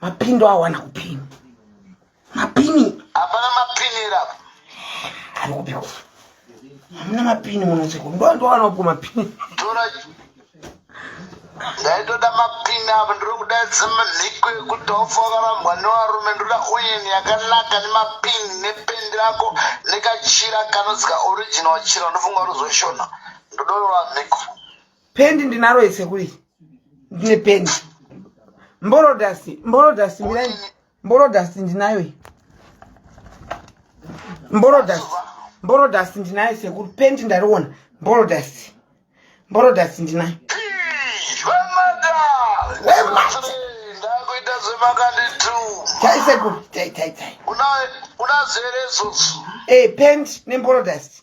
mapini awana kupini mapini hapana mapini era ari kupiko hamuna mapini munoseko ndo ndowana kupo mapini tora ndaitoda mapini apo ndiri kuda dzimaziko ekuti wafokarambwa nevarume ndoda oyin yakanaka nemapini nependi rako nekachira kanozika original chira ndofunga ruzoshona ndodorora mhiko pendi ndinaro ese kuri ndine pendi mborodasi mborodasi mirai mborodasi ndinayo iyi mborodasi mborodasi ndinayo sekuru pendi ndariona mborodasi mborodasi ndinayo tai sekuru tai tai tai unazere izodzo e eh, pendi nemborodasi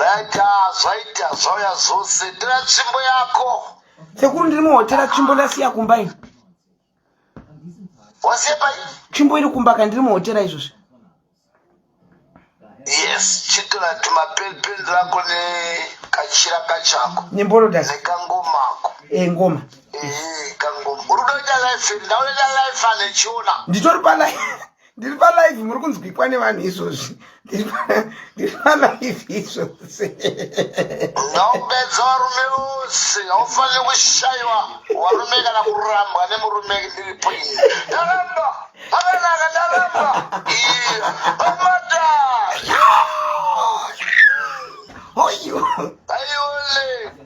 Raita zvaita zvauya zvose tira tsvimbo yako. Sekuru ndiri muhotera tsvimbo ndasiya kumba ini. Wasiya pai? Tsvimbo iri kumba ka ndiri muhotera izvozvi. Yes, chitora tumapelipeli rako ne kachira kachako. Nemborodas. Nekangomako. Eh, ngoma. Eh, kangoma. Uri kuita live, ndaona live ane chiona. Nditori pa live. ndiri palive muri kunzwikwa nevanhu izvozvi ndiri palive izvozvi ngaupedza varume vose haufanire kushaiwa varume kana kurambwa nemurume ndiripo ini ndaramba akanaka ndaramba amata aiole